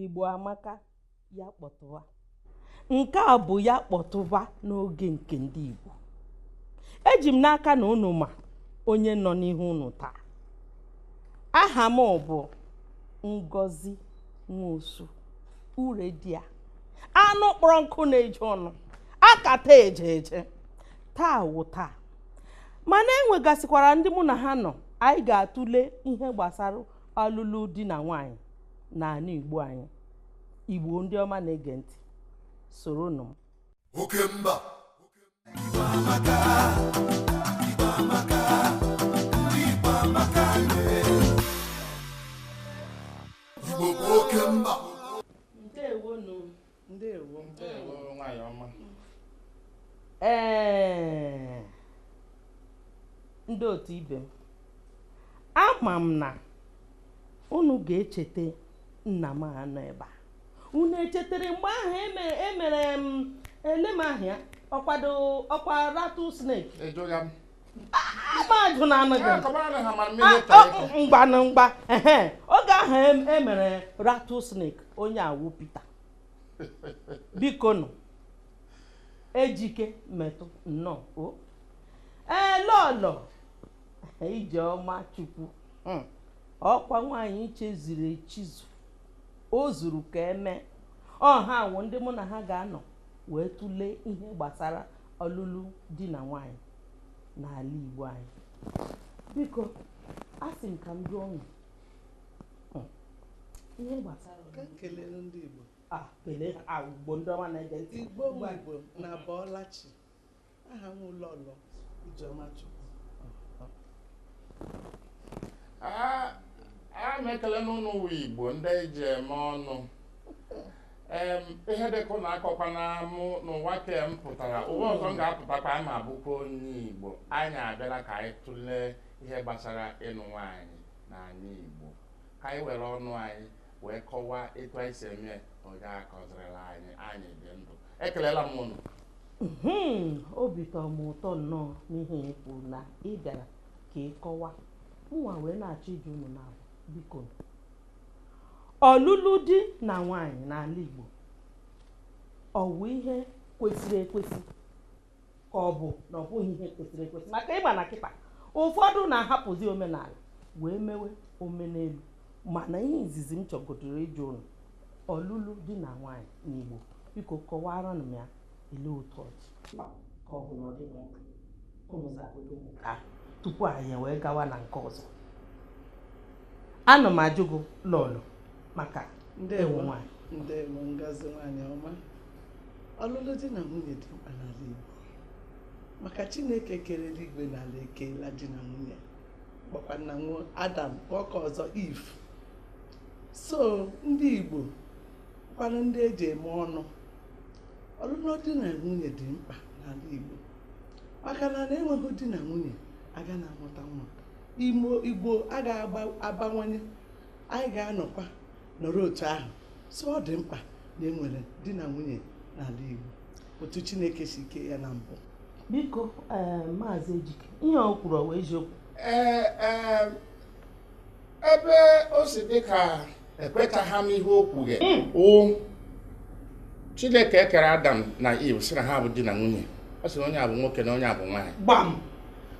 igbo amaka ya kpọtụwa nke a bụ ya kpọtụwa n'oge nke ndị igbo eji m n'aka na unu ma onye nọ n'ihu unu taa aha m bụ ngozi nwosu uredia anụ kpọrọ nkụ na-eju ọnụ akata eje eje taa wụ taa mana enwegasịkwara ndị mụ na ha nọ anyị ga-atụle ihe gbasara ọlụlụ di na nwaanyị n'anị igbo anyị igbo ndị ọma na-ege ntị soro nụ m oke mba Igbo amaka, Igbo amaka, ndị Igbo amaka lee. Igbo bụ oke mba ndewonu ndewo ndewo nwanyị ọma ee ndị otu ibe m ama m na unu ga-echeta nna m a nọ ebe a unu echetere mgbe ahụ eme- emere m elem ahịa ọkwado ọkwa rattlesnake Ejoghị m. mmadụ na-anaghị mgba na mgba oge ahụ emere e rattlesnake onye a wụ Pita biko nụ ejike metụ nnọọ o ee lọlọ ijeọma chukwu hmm. ọkwa nwaanyị chizuru echizu o zuru ka eme ọ ha wụ ndị mụ na ha ga-anọ wee tụlee ihe gbasara ọlụlụ di na nwaanyị n'ala Igbo anyị biko a sị m ka m jụọ unu hmm. ihe gbasara ka m kelee ndị Igbo ah, kelee ha ah, Igbo ndị ọma na-ege ntị Igbo Igbo unu abọọla chi aha m wụ lọlọ Ijeọma Chukwu ah, ana m ekele unu unu wụ Igbo ndị eji eme ọnụ Em, ihe dịka unu akọkwana m n'ụwa nke a m pụtara ụwa ọzọ m ga-apụtakwa aga m abụkwa onye Igbo anyị abịala ka anyị tụlee ihe gbasara ịlụ nwaanyị n'ala Igbo ka anyị were ọnụ anyị wee kọwaa etu anyị si eme onye akọzirila anyị anyị dị ndụ ekelela m ụnụ Mhm, obi tọrọ m ụtọ nnọọ n'ihe ị kwuru na ị bịara ka ị kọwaa mụnwa wee na-achọ ịjụ unu na biko ọlụlụ di na nwaanyị n'ala Igbo ọ bụ ihe kwesịrị ekwesị ka ọ bụ na ọ bụghị ihe kwesịrị ekwesị maka ị ma na kịta ụfọdụ na-ahapụzi omenala wee mewe omenelu mana ihe izizi m chọgodoro ịjụ ụnụ ọlụlụ di na nwaanyị n'Igbo biko kọwaaranụ m ya ele otu ọ dị ka ọ bụ na ọ dị n'ọkụ ụmụ zagodo ụmụ ka tupu anyị wee gawa na nke ọzọ ana m ajụ gị lọlọ maka ị wụ nwanyị ndewo ngozi nwanyị ọma ọlụlụ di na nwunye dị mkpa n'ala Igbo maka Chineke kere eluigwe na ala ekeela di na nwunye gbakwa na ọ wụ Adam nke ọzọ Iv so ndị Igbo kwanụ ndị eji eme ọnụ ọlụlụ di na nwunye dị mkpa n'ala Igbo maka na na-enweghị di na nwunye aga na-amụta nwa ụmụ Igbo a ga-abawanye anyị ga-anọkwa nọrọ otu ahụ so ọ dị mkpa na enwere di na nwunye n'ala Igbo otu Chineke si kee ya na mbụ biko eh, maazị Ejike ihe o kwuru ọ wụ eziokwu ee eh, eh, ebe o si dị ka ekwetaghị m ihe o kwughe hmm. chineke ekere adam na iv sị na ha bụ di na nwunye ọ sị na onye a bụ nwoke na onye a bụ nwaanyị gbam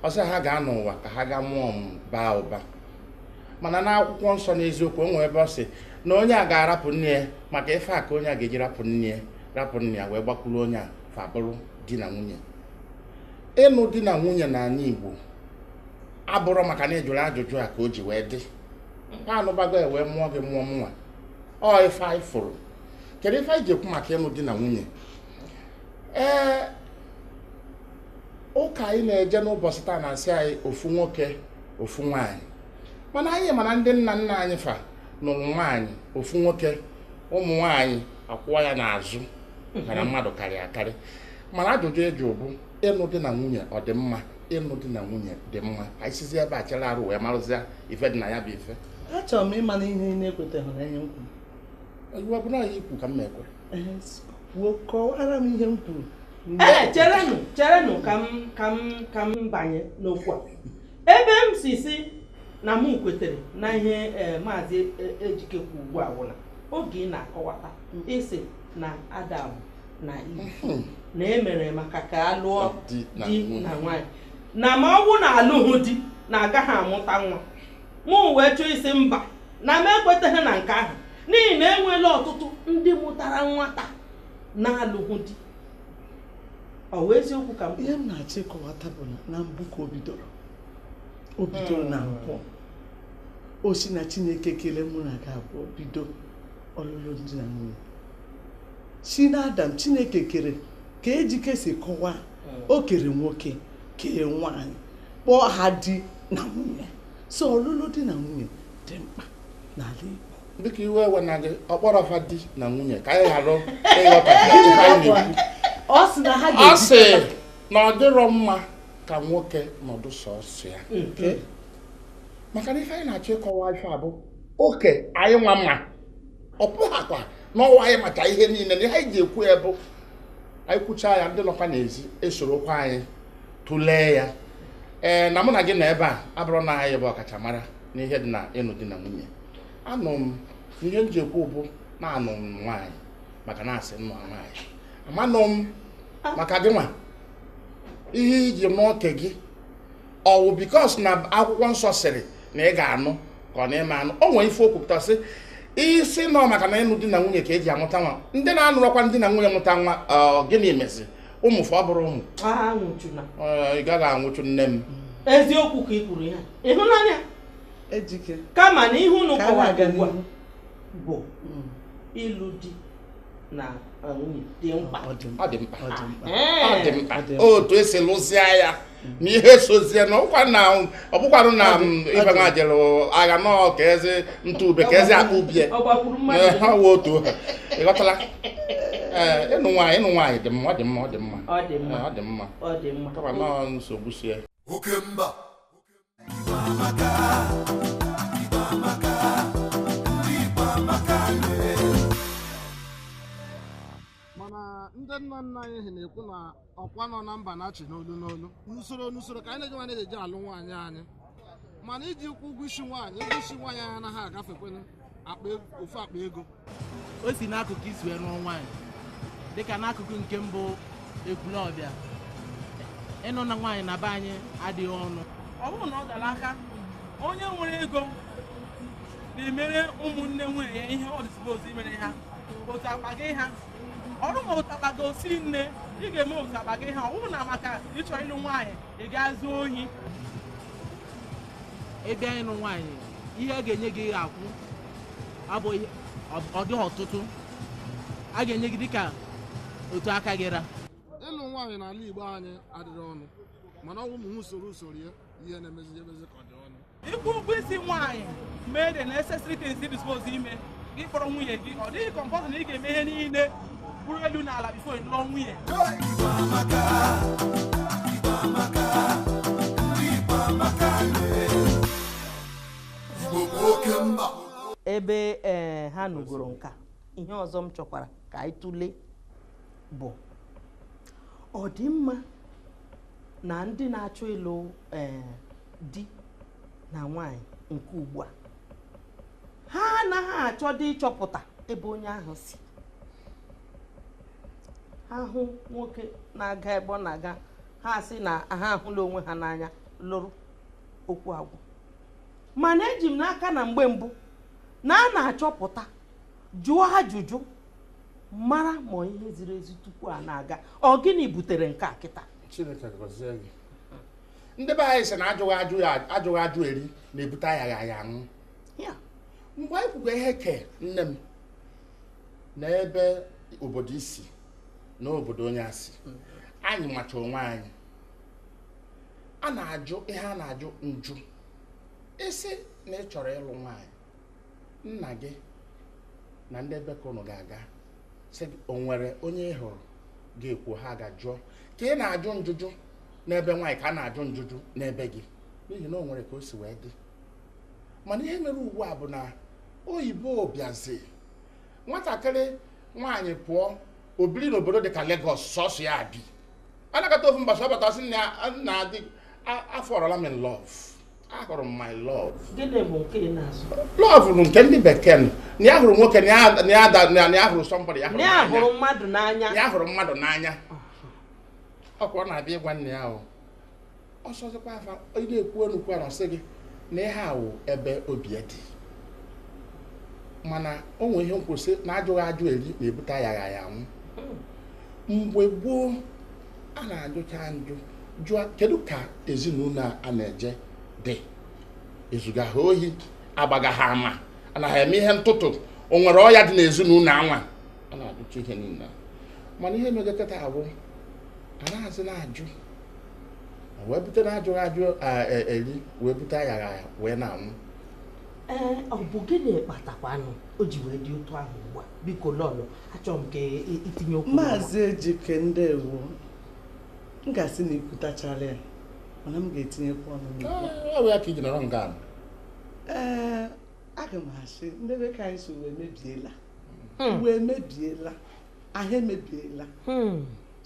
ọ sị ha gaa n'ụwa ka ha gaa mụọ mụbaa ụba mana n'akwụkwọ nsọ n'eziokwu o nwere ebe ọ sị na onye a ga-arapụ nne ya maka ife a ka onye a ga-eji rapụ nne ya rapụ nna ya wee gbakwuru onye a fa bụrụ di na nwunye ịnụ di na nwunye n'ala Igbo abụrọ maka na ị jụrụ ajụjụ a ka o ji wee dị mma a nụbago e wee mụọ gị mụọ mụnwa ọ ife anyị fụrụ kedu ife anyị ji ekwu maka ịnụ di na nwunye ee ụka anyị na-eje n'ụbọchị taa na-asị anyị ofu nwoke ofu nwaanyị mana anyị mana ndị nna nna anyị fa nụrụ nwaanyị ofu nwoke ụmụ nwaanyị akwụwa ya n'azụ maka na mmadụ karịa akarị mana ajụjụ ị jụ bụ ịnụ di na nwunye ọ dị mma ịnụ di na nwunye dị mma ka anyị sizi ebe a chere arụ wee marụzịa ife dị na ya bụ ife achọrọ m ịma na ihe ị na-ekweteghị na ihe m kwuru iwe bụ na ya ikwu ka m na-ekwe kwuo kọwara m ihe m kwuru ee cherenụ cherenụ ka m ka m ka m banye n'okwu a ebe m si si na m kwetere na ihe eh, maazị e, ejike kwu ugbu a wụ na oge ị na-akọwata ị sị na Adam na Iv hmm. na emere maka ka a lụọ di na nwaanyị na ma ọ bụ na alụghị di na agaghị amụta nwa mụ wee chọọ ịsị mba na m ekwetaghị na nke ahụ n'ihi na enweela ọtụtụ ndị mụtara nwata na-alụghị di ọ wụ eziokwu ka m ihe m na-achọ ịkọwata bụ na mbụ ka o bidoro o bidoro na hmm. nke ọ sị na chineke kele mụ na gị abụọ bido ọlụlụ di na nwunye si na Adam Chineke kere ka Ejike si kọwaa hmm. o kere nwoke kee nwaanyị kpọọ ha di na nwunye so ọlụlụ di na nwunye dị mkpa n'ala Igbo dịka iwe ewe na gị ọ kpọrọ fa di na nwunye ka anyị ghara ịghọta ọ sị na ọ dịrọ mma ka nwoke nọdụ sọsọ ya hmm. maka na ife anyị na-achọ ịkọwa ife ọ bụ okay anyị nwa ma ọ bụghakwa na ọ wụ anyị maka ihe niile na ihe anyị ji ekwu ya bụ anyị kwuchaa ya ndị nọkwa n'ezi esorokwa anyị tụlee ya ee na mụ na gị nọ ebe a abụrụ na anyị bụ ọkachamara n'ihe dị na ịnụ di na nwunye anụ m ihe m ji ekwu bụ na anụ m nwaanyị maka na a sị m nụa nwaanyị amanụ m maka gị nwa ihe i ji n'oke gị ọ wụ because na akwụkwọ nsọ sịrị na ị ga-anụ ka ọ na-eme anụ o nwere ife o kwupụta sị isi nọ maka na ịnụ di na nwunye ka eji amụta nwa ndị na-anụrọkwa di na nwunye mụta nwa gịnị mezi ụmụ fa ọ bụrụ ụmụ ị gaghị anwụchu nne m eziokwu ka ị kwuru ya ịhụnanya kama na ihe unu kọwara ugbu a bụ mm. ịlụ di na nwunye dị mkpa otu esi lụzie ya na ihe sozie na ọ bụkwa na ọ bụkwarụ na ife nwa jere agha nọ ka esi atụ ube ka esi agba ubie ha wee otu ha ịghọtala ịnụ nwaanyị ịnụ nwaanyị dị mma ọ dị mma ọ dị mma ọ dị mma kama nọọ nsogbu sie oke mba mana ndị nna nna anyị ha na-ekwu na ọkwa nọ na mba na-achị n'olu n'olu n'usoro n'usoro ka anyị na-eji nwaanyị eji alụ nwaanyị anyị ma na iji kwụ ụgwọ isi nwaanyị ụgwọ isi nwaanyị anyị anaghị agafekwanụ akpa ego- ofu akpa ego o si n'akụkụ i si wee nụọ nwaanyị dịka n'akụkụ nke m bụ Ekwulọbịa ịnụ nwaanyị na be anyị adịghị ọnụ ọ bụrụ na ọ dara aka onye nwere ego na-emere ụmụnne nwunye ya ihe ọ dị ezigbo ozi i mere ha otu akpa gị ha ọrụ ma otu akpa gị osi nne ị ga-eme otu akpa gị ha ọ bụrụ na maka ị chọ ịlụ nwaanyị ị ga-ezu ohi ebe anyị ịnụ nwaanyị ihe a ga-enye gị ga-akwụ abụghị ọ dịghị ọtụtụ a ga-enye gị dịka otu aka gị ra ịlụ nwaanyị n'ala Igbo anyị adịrị ọnụ mana ọ wụ ụmụ ihe usoro usoro ya ihe na-emezi emezi ka ọ dị ọnụ ịkwụ ụgwọ isi nwaanyị mee the necessary things ị suppose ime gị kpọrọ nwunye gị ọ dịghị compulsory na ị ga-eme ihe niile bụrụ elu na ala before ị lụọ nwunye ebe ee ha nụgoro nka ihe ọzọ m chọkwara ka anyị tụlee bụ ọ dị mma na ndị na-achọ ịlụ ee di na nwaanyị nke ugbu a ha anaghị achọdị ịchọpụta ebe onye ahụ si ha hụ nwoke na-aga ebe ọ na-aga ha sị na ha ahụla onwe ha n'anya lụrụ okwu agwụ mana eji m n'aka na mgbe mbụ na a na-achọpụta jụọ ajụjụ mara ma ihe ziri ezi tupu a na-aga ọ gịnị butere nke a kịta ndị be anyị sị na ajụghị ajụ ya ajụghị ajụ eri na-ebute ayaghị aya anwụ mgbe anyị kwugo ihe ke nne m na ebe obodo i si na obodo onye a si mm. anyị macha onwe anyị a na-ajụ ihe a na-ajụ njụ ị sị na ị chọrọ ịlụ nwaanyị nna gị na ndị ebe ka ụnụ ga-aga sị gị, o nwere onye ị hụrụ ga-ekwu ha gaa jụọ ka ị na-ajụ njụjụ n'ebe nwaanyị ka a na-ajụ njụjụ n'ebe gị n'ihi na o nwere ka o si wee dị mana ihe mere ugbu a bụ na oyibo bịazi nwatakịrị nwaanyị pụọ o biri n'obodo dị ka Lagos sọsọ ya bi a nọkata ofu mbọsị ọ bata sị nna ya daddy afọọrọla m in love ahụrụ m my love gịnị bụ nke ị na-asụ love bụ nke ndị bekee nụ. na ya hụrụ nwoke na ya- na ya da- na ya hụrụ somebody ya hụrụ na ya n'anya. hụrụ mmadụ n'anya ya hụrụ mmadụ n'anya ọkwa ọ na-abịa ịgwa nne ya o ọsọzikwa afa ị na-ekwu enu kwara sị gị na ihe a wụ ebe obi ya dị mana o nwere ihe m kwu sị na ajụghị ajụ eri na-ebute ayaghị aya anwụ mgbe gboo a na-ajụcha njụ jụọ kedu ka ezinụlọ a na-eje dị ezuga ha ohi agbaga ha ama ana ha eme ihe ntụtụ o nwere ọya dị n'ezinụlọ anwa a na-ajụcha ihe niile mana ihe mega kịta a bụ anazị na-ajụ wee bute na ajụghị ajụ e, eri wee bute ayaghị aya wee na-anwụ ee ọ bụ gịnị kpatakwanụ o ji wee dị otu ahụ ugbu a biko lọlọ achọrọ m ka i tinye okwu maazị ejike ndewo m ga-asị na i kwutachala ya mana m ga-etinyekwa ọnụ ọ bụ ya ka e ji nọrọ nga ee aga m asị ndị be ka anyị sị ụwa emebiela hmm. ụwa emebiela ahụ emebiela hmm.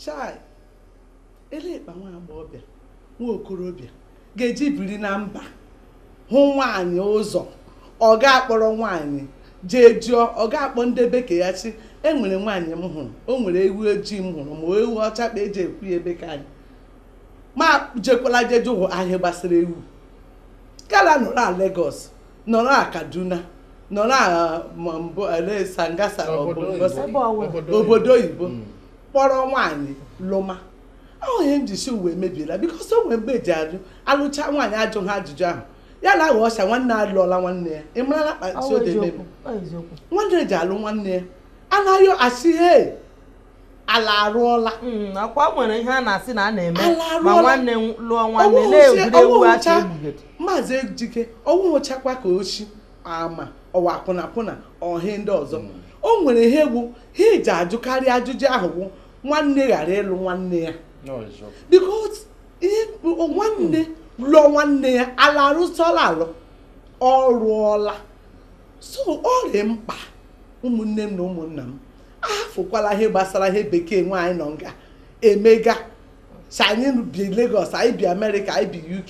chai elee kpa nwa agbọghọbịa nwa okorobịa ga-eji biri na mba hụ nwaanyị ụzọ ọ ga-akpọrọ nwaanyị jee jụọ ọ ga-akpọ ndị be ke ya shị e nwere nwaanyị m hụrụ o nwere ewu ojii m hụrụ ma ewu ọcha kpa e ji ekwu ya e be ke anyị ma jekwala jee jụọ ihe gbasara ewu kala nọrọ a Lagos nọrọ a Kaduna nọrọ a mbụ ele sangasa obodo oyibo kpọrọ nwaanyị lụma ọ wụ ihe m ji sị ụwa emebiela because o nwere mgbe e ji ajụ alụcha nwaanyị ajụ ha ajụjụ ahụ ya na-awụ oshi nwanne alụọla nwanne ya ị marala kpati ode meme nwanne ji alụ nwanne ya anaghị asị he ala arụọla hmm, ọ kwa o nwere ihe a na-asị na a na-eme ma nwanne lụọ nwanne na-egwuregwu acha egbugede maazị ejike ọ wụchakwa ka oshi ma ọ wụ akwụna akwụna ohi ndị ọzọ hmm. o nwere ihe bụ ihe e ji ajụkarị ajụjụ ahụ bụ nwanne ghara ịlụ nwanne ya because nwanne lụọ nwanne ya ala arụsọla alụ ọ rụọla so ọ dị mkpa ụmụnne m na ụmụnna m afụkwala ihe gbasara ihe bekee anyị nọ nga emega sị anyị bi Lagos anyị bi Amerịka anyị bi UK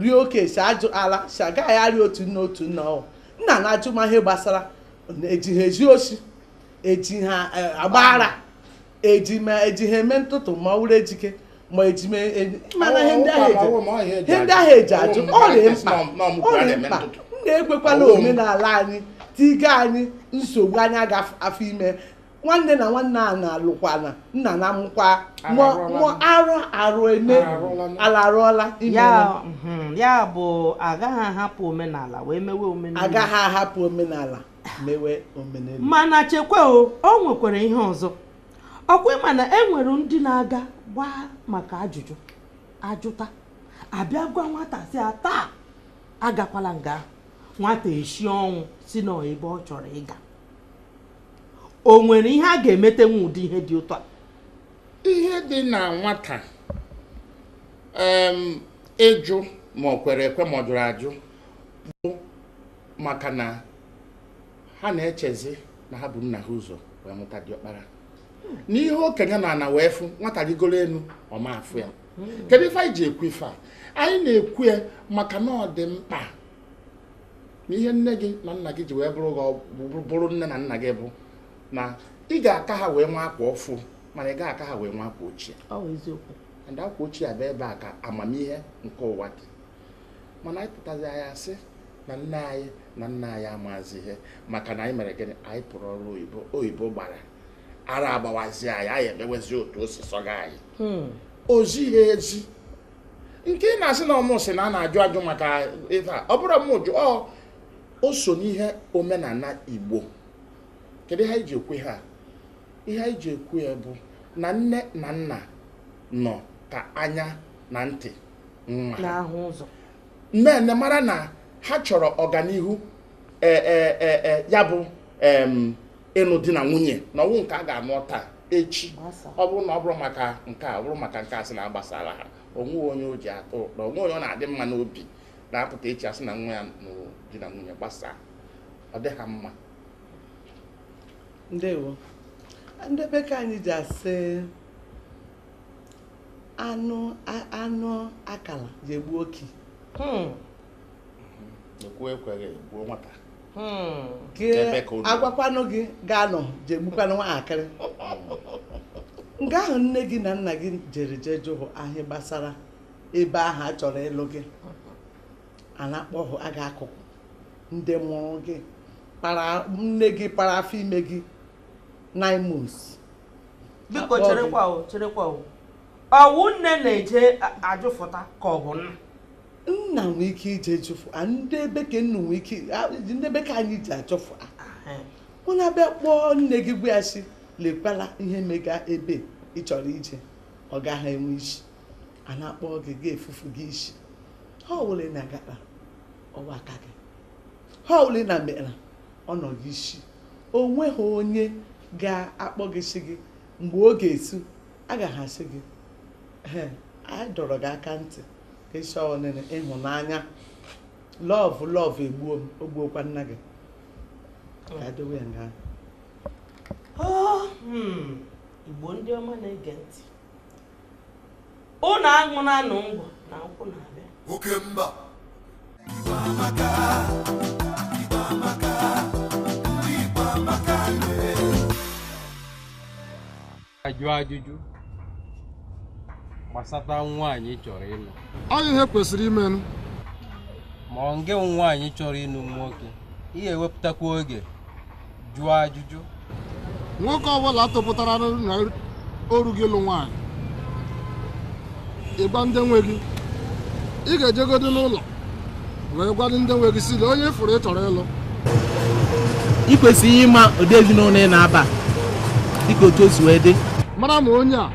rie oke si ajụ ala si agaghị arị otu nna otu nna ọ wụ nna na-ajụ ma ihe gbasara e ji ha ezu oshi e ji ha e, agba ara eji ma e ji ha eme ntụtụ ma ọ wụrụ ejike ma eji ma e, mana ihe ndị ahụ eji ihe ndị ahụ e ji ajụ ọ dị mkpa ọ dị mkpa nna ekwekwala omenala anyị tiga anyị nsogbu anyị aga afọ ime nwanne na nwanne a na-alụkwana nna na-amụkwa mụọ arụ arụ eme ala arụọla mhm, ya bụ agaghị ahapụ omenala wee mewe omenelu agaghị ahapụ omenala mewe omenelu mana chekwa o o nwekwara ihe ọzọ ọ kwa ị ma na e nwere ndị na-aga gbaa maka ajụjụ a jụta a bịa gwa nwata sị ya taa agakwala nga nwata eshi ọnwụ sị na ebe ọ chọrọ ịga o nwere ihe a ga-emete n'ụdị ihe dị otu a ihe dị na nwata ịjụ ma ọ kwere ekwe ma ọ jụrụ ajụ bụ maka na ha na-echezi na ha bu nna ha ụzọ wee mụta diọkpara na ihe okenye nọ ana wee fụ nwata rigoro elu ọ ma-afụ ya kedu ife anyị ji ekwu ife a anyị na-ekwu ya maka na ọ dị mkpa na ihe nne gị na nna gị ji wee bụrụ gị ọgwụ- bụrụ nne na nna gị bụ na ị ga-aka ha wee nwee akwa ọfụụ mana ị gaghị aka ha wee nwee akwa ochie ọ bụ eziokwu and akwa ochie a bụ ebe a ka amamihe nke ụwa dị mana anyị pụtazi anyị asị na nne anyị na nna anyị amazi ihe maka na anyị mere gịnị anyị pụrụ ọrụ oyibo oyibo gbara ara agbawazi anyị anyị emewezi otu o si sọga anyị Hmm. ozi ha ezi nke ị na-asị na ọ mụ sị na a na-ajụ ajụ maka ife a ọ bụrụ m jụ ọ o so n'ihe omenala igbo kedu ihe anyị ji ekwu ihe a ihe anyị ji ekwu ya bụ na nne na nna nọ ka anya na ntị nwa na-ahụ ụzọ nne mara na ha chọrọ ọganihu e, e, e, e, ya bụ em, ịnụ di na nwunye na ọ wụ nke a ga-anụ taa echi ọ bụrụ na ọ bụrụ maka nke a ọ bụrụ maka nke a sị na agbasara ha o nwe onye o ji atọ ụtọ o nwe onye ọ na-adị mma n'obi na-apụta echi asị na nwa ya nụrụ di na nwunye gbasaa ọ dịha mma ndewo ndị be ka anyị ji asị anụ anụ akala ji egbu okii hmm. ekwu ekweghị gbuo nwata hmm. agwakwanụ gị ga-anụ ji egbukwanụ nwaakịrị nga ahụ nne gị na nna gị jere jee jụhụ ase gbasara ebe ahụ a chọrọ ịlụ gị a na-akpọhụ aga akụkụ ndị mụrụ gị para nne gị para afọ ime gị nine months biko cherekwa cherekwa ọ wụ nne na-eje ajụfụta ka ọ bụ nna nna nwee ike ije jụfụta ndị ebe ka ụnụ nwee ike a- ndị ebe ka anyị ji ajụfụta ụmụnna abịa kpọọ nne gị gwa ya sị lekwala ihe mega ebe ị chọrọ ije ọ gaghị enwe isi a na-akpọ gị gị efufu gị isi ihe ọwụla ị na-agakpa ọ wụ aka gị ihe ọwụla ị na-emere ọ nọ gị isi o nweghị onye ga-akpọ gị sị gị mgbe ọ ga-esu agaghị asị gị "Ee, anyị dọrọ gị aka ntị ị sị ọ naanị ịhụnanya love love egbuo m o gbuokwa nna gị ka adowe ya nga Oh, hmm. igbo ndị ọma na-ege ntị ụnụ ahụna anụ ngwọ na nkwụ na-abịa oke mba ajụ ajụjụ gbasata nwaanyị ị chọrọ ịlụ ọ ihe kwesịrị imenụ ma ọ nge nwaanyị chọrọ ịlụ nwoke ị ga-ewepụtakwa oge jụọ ajụjụ nwoke ọbụla topụtara na o ru ogo ịlụ nwaanyị ịgwa ndị nwe gị ị ga-ejegodo n'ụlọ wee gwa ndị nwe gị sị lee onye ị fụrụ ị chọrọ ịlụ ị kwesịrị ịma ụdị ezinụlọ ị na-aba dịka otu o si wee dị mara ma onye a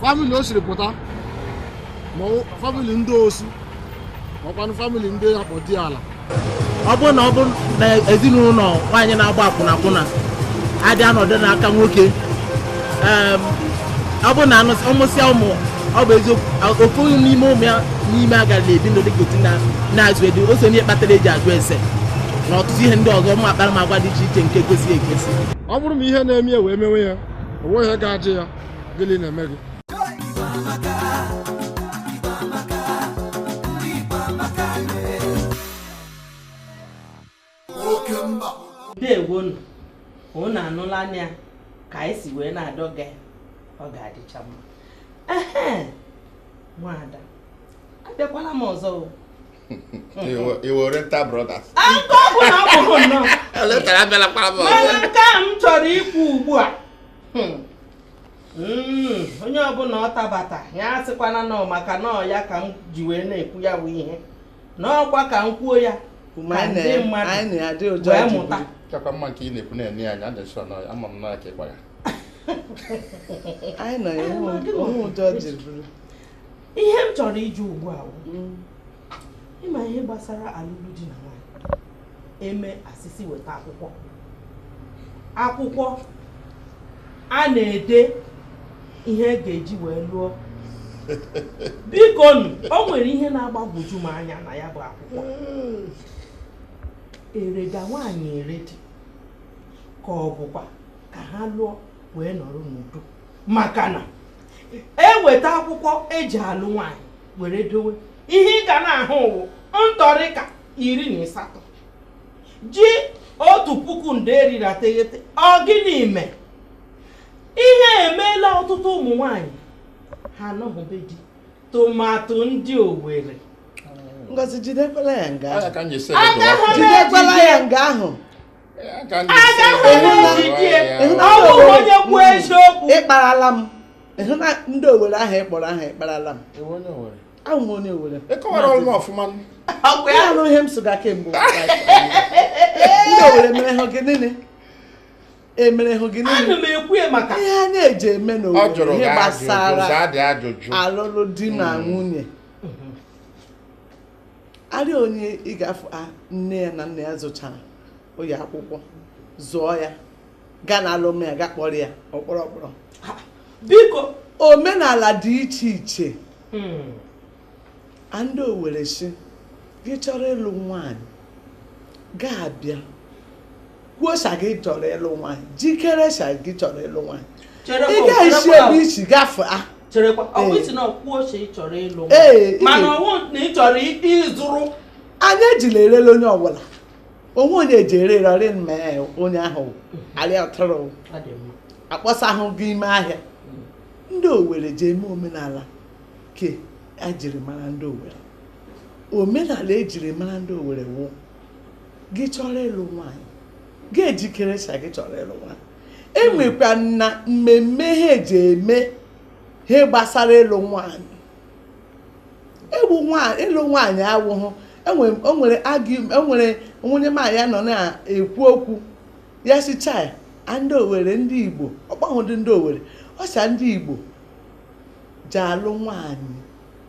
famili o siri pụta ma ọ- famili ndị osu ma ọ kwanụ famili ndị ya kpọ diala ọ bụrụ na ọ bụrụ na ezinụlọ nwaanyị na-agba akwụna akwụna adị anọdụ n'aka nwoke ọ bụrụ na ọ mụsịa ụmụ ọ bụ eziokwu ofu n'ime ụmụ ya n'ime agara na-ebi ndụ dịka otu na-azụ edu o so n'ihe kpatara eji ajụ ese na ọtụtụ ihe ndị ọzọ ụmụ akparamagwa dị iche iche nke kwesịrị ekwesị ọ bụrụ na ihe na-eme ya wee mewe ya onwe ihe ga-ajụ ya gịnị na-eme gị ndewonụ unu anụlanụ ya ka anyị si wee na-adọga ọ ga-adịcha mma ehe nwada abịakwala m ọzọ o. I were nta brothers. Aka ọ bụla ọ bụrụ nnọọ Letara abịala kpara m ọzọ. mana nke a m chọrọ ikwu ugbu a hmm, Hmm, onye ọbụla ọ dabata ya asịkwana na ọ maka na ọ ya ka m ji wee na-ekwu ya bụ ihe na ọ kwa ka m kwuo ya ka ndị mmadụ wee mụta kakwa mma nke ị na-ekwu na-enye anya ndị nsọ nọ ama m n'aka ịgba ya ihe m chọrọ ịjụ ugbu a hmm. ị ma ihe gbasara alụlụ di na nwaanyị e mee a sị sị weta akwụkwọ akwụkwọ a na-ede ihe a ga-eji wee lụọ biko nụ o nwere ihe na-agbagwoju m anya na ya bụ akwụkwọ e rega nwaanyị ere dị ka ọ bụkwa ka ha lụọ wee nọrọ n'udo maka na e weta akwụkwọ eji alụ nwaanyị were dowe ihe ị ga na-ahụ wụ ntọrịka iri na asatọ ji otu puku nde iri na teghete ọ gịnị ime ihe emeela ọtụtụ ụmụ nwanyị ha anọghị be di tomato ndị owere ngozi jidekwala ya nga ahụ jidekwala ya nga ahụ ị kparala m ndị owere ahụ ị kpọrọ ahụ ị kparala m awụ m onye owere anụ ihe m sụga kemgbe ndị owere mere ha gị niile emerehụ gị ihe a na-eji eme n'owere ihe gbasara alụlụ di na hmm. nwunye arị onye ị ga-afụ a nne ya na nna ya zụchara ụlọ akwụkwọ zụọ ya gaa na alụm ya ga kpọrọ ya ọkpọrọ ọkpọrọ biko omenala dị iche iche hmm. a ndị owere sị gị chọrọ ịlụ nwaanyị ga-abịa kwuo sa gị chọrọ ịlụ nwaanyị jikere sa gị chọrọ ịlụ nwaanyị ị ga-esi ebe e si gafe a cherekwa ọkwa isi na ọkwuo ose ị chọrọ ịlụ mana ọwụ na ị chọrọ ịzụrụ anyị ejila erela onye ọwụla o nwe onye e ji ere rarị ma onye ahụ arịa atụrụ akpọsa ahụ gị ime ahịa mm. ndị owere ji eme omenala ke ejiri mara ndị owere omenala ejiri mara ndị owere wụ gị chọrọ ịlụ nwaanyị gị ejikere sa gị chọrọ ịlụ nwaanyị enwekwa na mmemme ha ji eme ha gbasara ịlụ nwaanyị egbu nwaanyị ịlụ nwaanyị awụhụ enwere enwere onye nwaanyị nọ na-ekwu okwu ya sị chai ndị owere ndị igbo ọ kpọhụdị ndị owere ọsa ndị igbo ji alụ nwaanyị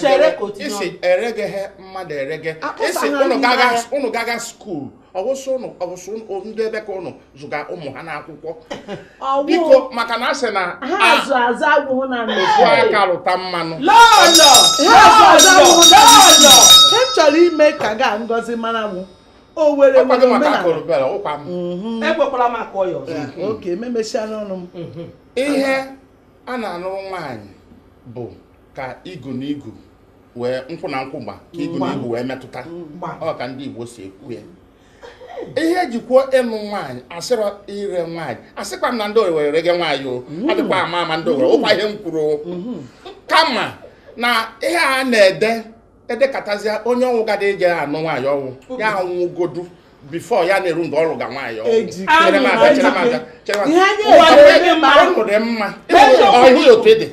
chere ka o tinye isi ọnụ. eregeghe mmadụ erege Akụsa isi ha unu n'ime gaga ya. unu gaga skuul ọwụsị unu ọwụsị unu ndị ebe ka unu zụga ụmụ ha n'akwụkwọ Ọwụ biko maka na a sị na ha a- azụ azụ agwụghụ na ndụ. ofu aka rụta mmanụ lọlọ Ha azụ azụ agwụghụ na ndụ. lọlọ Ha chọrọ ime ka ga ngozi mara mụ. O were ọkwa were gị maka omenala. korobere ụkwa m ekwekwala m akụọ ya ọzọ oke memesiala ọnụ m ihe a na-anụrụ nwaanyị bụ ka igu na igu wee nkwụ na nkwụ gba ka igu na igu wee metụta ọ ka ndị Igbo si ekwu ya ihe e ji kwuo ịnụ nwaanyị a sịrọ ire nwaanyị asịkwa m na ndị owere rege nwaanyị o mm. adịkwa ama ama ndị owere ụkwa ihe m kwuru mm-hmm. kama na ihe a na-ede edekatazie onye ọnwụ gada eje ya anụ nwaanyị ọnwụ ya anwụgodu before ya na-eru mgbe ọ lụga nwaanyị ọnwụ chere m abịa chere m abịa chere m abịa ọnụ dị mma ọhụ ya otu ede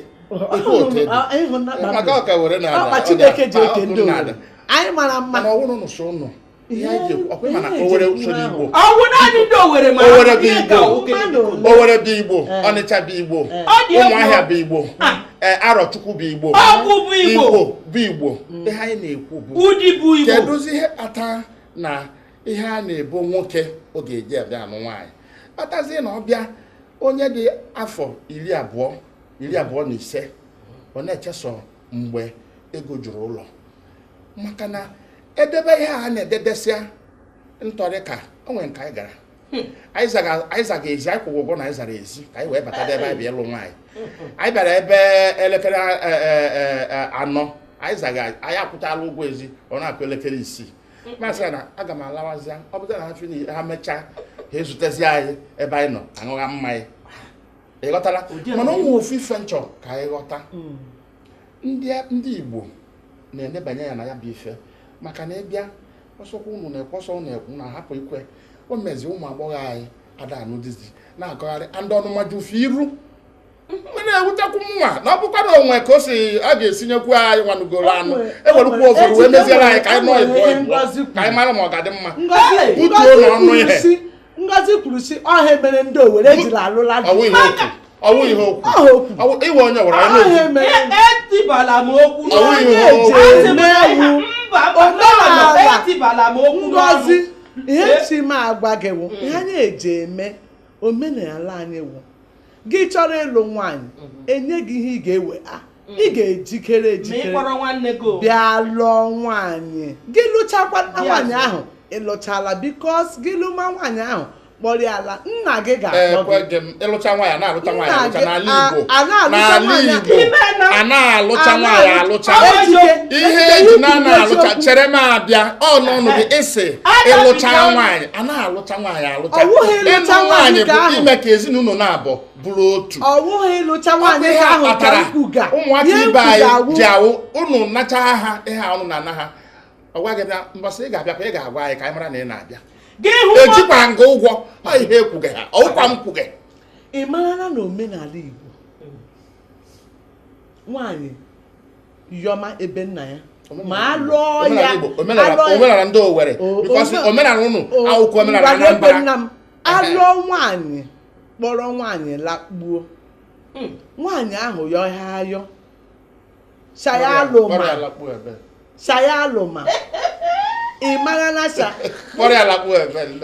otu otu ede maka ọka were na ala ọkpa Chineke ji eke ndị obodo anyị mara mma na ọwụrụ nụsụ ụnụ ihe anyị ji ọkwa ị ma na owere usoro igbo ọ wụ naanị ndị owere ma owere bụ igbo owere bụ igbo eh. ọnịcha bụ igbo ụmụahịa bụ igbo ah. eh, arọchukwu bụ igbo ọgwụ bụ igbo bụ igbo mm. ihe anyị na-ekwu bụ ụdị bụ igbo kedụzi ihe kpata na ihe a na-ebo nwoke ọ ga-eji abịa anụ nwaanyị kpatazie na ọbịa onye dị afọ iri abụọ iri abụọ na ise ọ na-echesọ mgbe ego juru ụlọ maka na edebe ihe a na-edebesịa ntọrị ka o nwere nke anyị gara hmm. anyị zaga ezi anyị kwụga ụgwọ na anyị zara ezi ka anyị wee bata ebe anyị bịa ịlụ nwaanyị hmm. anyị bịara ebe elekere e, e, e, anọ anyị zaga anyị akwụtala ụgwọ ezi ọ na-akụ elekere isii hmm. m asị ya na aga m alawazi ọ bụta na ha chụrụ ha mechaa ha ezutezi anyị ebe anyị nọ aṅụgha mmanya ị ghọtala mana e nwe ofu ife m chọ ka anyị ghọta ndị ndị Igbo na-enebanye ya na ya bụ ife maka na ị bịa ọ sọkwa unu na-ekwe ọ sọ unu ekwu na hapụ ikwe o mezi ụmụ agbọghọ anyị ada anụ dizi na-akọgharị andị ọnụma eju fa iru mgbe na-ewutekwu mụwa na ọ bụkwa na o nwe ka o si a ga-esinyekwu anyịnwa nụgoro anụ e werukwu ụfọdụ wee meziere anyị ka anyị nọọ ịbụọ ịbụọ ka anyị mara ma ọ ga-adị mma butuo n'ọnụ ihe Ngozi kwuru sị ọ ihe mere ndị Owere ejiri alụla ọ wụ ihe okwu iwe onye gwara ya n'okwu etibala m okwu n'oge mewu omenala Ngozi ihe chi m agwa gị wụ ihe anyị eji eme omenala anyị wụ gị chọrọ ịlụ nwaanyị e nye gị ihe ị ga-ewe a ị ga-ejikere ma ị ejikere kpọrọ nwanne gị o. bịa lụọ nwaanyị gị lụchakwa nna Bịa nwaanyị zụọ. ahụ ị lụchala bikos gị lụma nwaanyị ahụ kpọrọ ya ala nna gị ga-akpọ ekwe gị gị m ịlụcha nwaanyị a na-alụcha nwaanyị Nna alụcha gị, n'ala a- Igbo a na-alụcha n'ala nwaanyị Igbo ime na- a na-alụcha a nwaanyị na-alụ- alụcha Ọ bụ Ejike, ihe ejike eji ikwu na na-alụcha eziokwu. chere m abịa ọ n'ọnụ gị ị sị Ada ịlụcha bidoro. nwaanyị a na-alụcha nwaanyị alụcha ịlụ nwaanyị bụ ime ka ezinụlọ naabọ bụrụ otu ọ wụghị ịlụcha nwaanyị ahụ kpatara ụmụaka ibe anyị ji awụ ụnụ nacha ha ihe ụnụ na ana ha ọ gwa gị bịa mbọsị ị ga-abịakwa ị ga-agwa anyị ka anyị mara na ị na-abịa ejikwa nga ụgwọ ọ ihe ekwughị ha ọ wụkwa m kwughị ị marala na omenala Igbo nwaanyị Yọma ebe nna ya ma alụọ ya omenala ndị Owerri because omenala ụnụ awụkwa omenala Anambra nna m alụọ nwaanyị kpọrọ nwaanyị lakpuo hmm. nwaanyị ahụ yọ ha ayọ saya alụma saya alụma ị mara na sa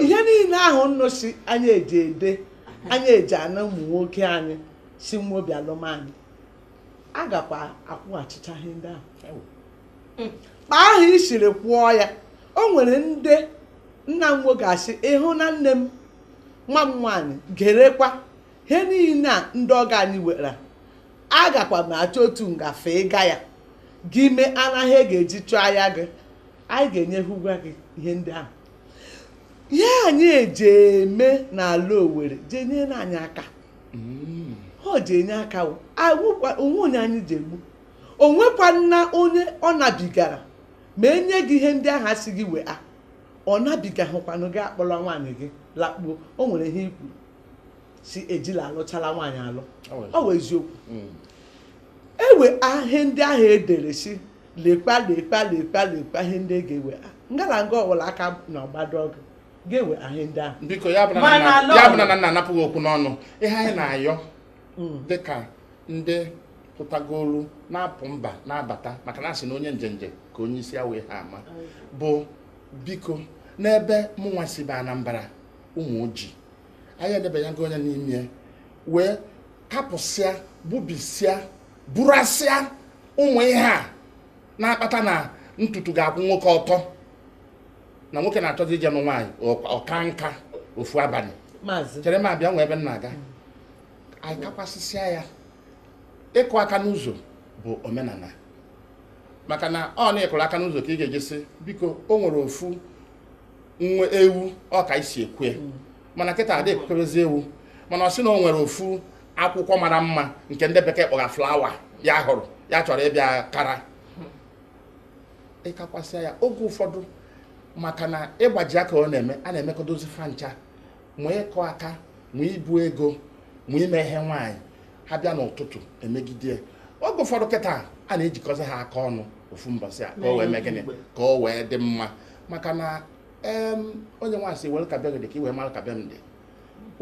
ihe niile ahụ ụnụ sị anyị eji ede anyị eji ana ụmụ nwoke anyị si n'obi alụ nwaanyị a gakwa akwụghachicha ihe ndị ahụ hmm. kpa ahụ i siri kwụọ ya o nwere ndị nna nwa ga-asị ị hụna nne m nwa m nwaanyị gerekwa ihe niile a ndị ọgọ anyị were agakwa m achọ otu ngafe ịga ya gị emena ihe e ga-eji chụyaa gị anyị ga-enye ụgwọ gị ihe ndị ahụ ihe anyị eji eme n'ala Owerri jee nyere anyị aka mm. ọ ji enye aka o nwe onye anyị ji egbu o nwekwanụ onye ọ nabigara ma e nye gị ihe ndị ahụ a sị gị wee a ọ nabigahụkwanụ gị akpọrọ nwaanyị gị lakpuo o nwere ihe i kwuru sị e jila alụchala nwaanyị alụ ọ wụ eziokwu mm. ewe ihe ndị ahụ e dere sị lekwa lekwa lekwa lekwa ihe ndị e ga-ewe nga la nga ọ wụla aka na ọgbado ọgụ ga-ewe ahụ ndị ahụ biko ya bụrụ Mana na lọọ- ya bụrụ na m na-anapụ gị okwu n'ọnụ ihe anyị na-ayọ dịka ndị pụtagoro na-apụ mba na-abata maka na a sị na onye njenje ka onye isi awọ ihe ama bụ biko n'ebe mụnwa si bụ anambra ụmụoji anyị enebanyago anya n'ime ya wee kapụsịa gbubisịa burasịa ụmụ ihe a na-akpata na ntutu ga-akwụ nwoke ọtọ na nwoke na-achọzi ije nụ nwaanyị ọ kaa nka ofu abalị chere m abịa nwee ebe m na-aga anyị kakwasịsịa ya ịkụ aka n'ụzọ bụ omenala maka na ọ n'ịkụ aka n'ụzọ ka ị ga-eji sị biko o nwere ofu nwa ewu ọ ka e si ekwue mm. mana kịta adị ekwukerezi ewu mana ọ sị na o nwere ofu akwụkwọ mara mma nke ndị bekee kpọga flawa ya hụrụ ya chọrọ ịbịa kara ị kakwasịa ya oge ụfọdụ maka na ịgbaji aka ọ na-eme a na-emekọdozi fa ncha ma ịkụ aka ma ibu ego ma ime ihe nwaanyị ha bịa n'ụtụtụ emegide oge ụfọdụ kịta a na-ejikọzi ha aka ọnụ ofu mbọsị a ka o wee mee gịnị ka o wee dị mma maka na onye nwaanyị sị were ka be gị dị ka i wee mara ka be m dị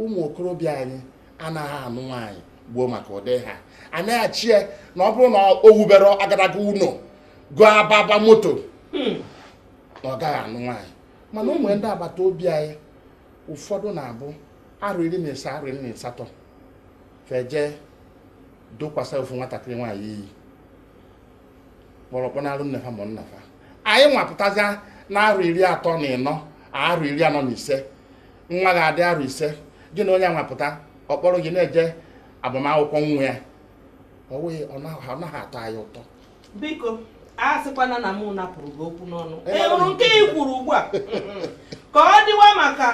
ụmụ okorobịa anyị anaghị anụ nwaanyị gbuo maka ụdị ihe a na-eche na ọ bụrụ na o wuberọ agadaga ụlọ gọọ ababa moto hmm. na ọ gaghị anụ nwaanyị mana ụmụ ndị agbata obi anyị ụfọdụ na-abụ arụ iri na ise arụ iri na asatọ fa eje dokwasị ofu nwatakịrị nwaanyị iyi kpọrọ kpọnaarụ nne fa ma nna fa anyị nwa pụtazi na arụ iri atọ na ịnọ arụ iri anọ na ise nwa gị adị arụ ise gị na onye anwa pụta ọ kpọrọ gị na-eje agbamakwụkwọ nwa ya ọ wụghị ọ naghị atọ anyị ụtọ biko a sịkwana na mụ napụrụ gị okwu n'ọnụ ị hụrụ nke i kwuru ugbu a ka ọ dịwa maka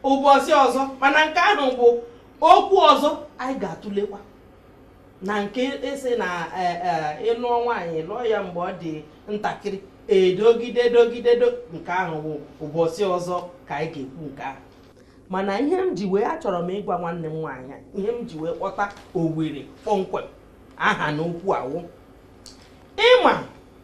ụbọchị ọzọ mana nke ahụ bụ okwu ọzọ anyị ga-atụlekwa na nke ị sị na e, e, ị lụọ nwaanyị lụọ ya mgbe ọ dị ntakịrị edogide dogide nke ahụ bụ ụbọchị ọzọ ka anyị ga-ekwu nke ahụ mana ihe m ji wee achọrọ m ịgwa nwanne m nwaanyị ihe m ji wee kpọta owere kpọmkwem aha na okwu a wụ ị ma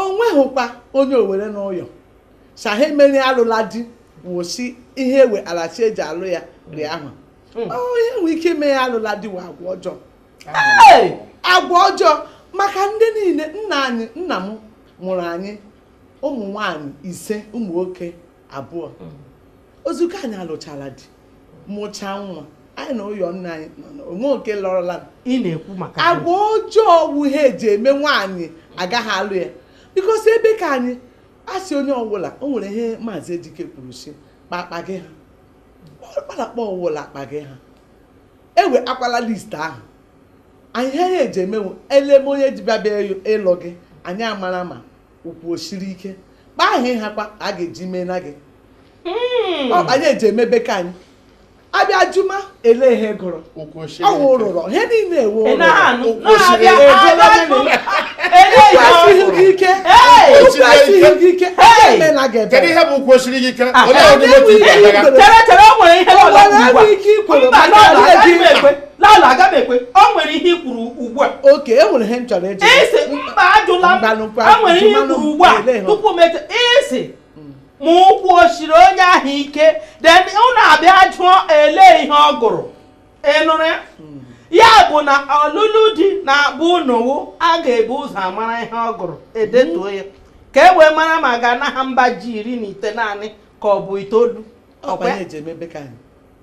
o nweghịkwa onye Owere n'ụyọ sa ha emere alụla di wụsị ihe ewe a la-asị e ji alụ ya dị ahụ hmm. onye nwere ike ime ya alụla di wụ agwa ọjọọ agwa ọjọọ maka ndị niile nna anyị nna m mụrụ anyị ụmụ nwanyị ise ụmụ nwoke abụọ hmm. ozugbo anyị alụchala di mụchaa nwa anyị na ụyọ nna anyị o nwehụ nke lọrọla ị na-ekwu maka agwa ọjọọ wụ ihe e ji eme nwaanyị agaghị alụ ya because ebe ka anyị asị onye ọwụla o nwere ihe maazị Ejike kwuru sị kpakpa gị ha kpalakpa ọwụla akpa gị ha ewe akwala list ahụ anyị ha ya e ji eme eleme onye ji abịa ịlụ gị anyị amara ma ụkwụ o siri ike kpa ahụ ị hakwa a ga-eji mee na gị hmm. ọ ya e ji eme ebe ka anyị a bịa jụma ele ihe ị gụrụ ọ wụ ụrụrọ ihe niile ewe ụkwụ esighị ike esighị gị ike eme na gị ebe ihe ụkwụ siri gị ike ah, onye ọdịbe ike ikwere maka gị lala aga m ekwe o nwere ihe i kwuru ugbu a okay e nwere ihe m chọrọ eji isi mba ajụla m Mbanụ kwa, a nwere ihe i jụmanụ kwuru ugbu a ele ha. tupu m eche i sị ma ụkwụ o siri onye ahụ ike then unu abịa jụọ ele ihe ọ gụrụ ị nụrụ ya ya bụ na ọlụlụ di na be unu wụ a ga-ebu ụzọ amara ihe ọ gụrụ e detuo ya ka e wee mara ma a ga-ana ha mba ji iri na itenanị ka ọ bụ itoolu ọ kwa ọ kwa ya e ji eme ebe ka anyị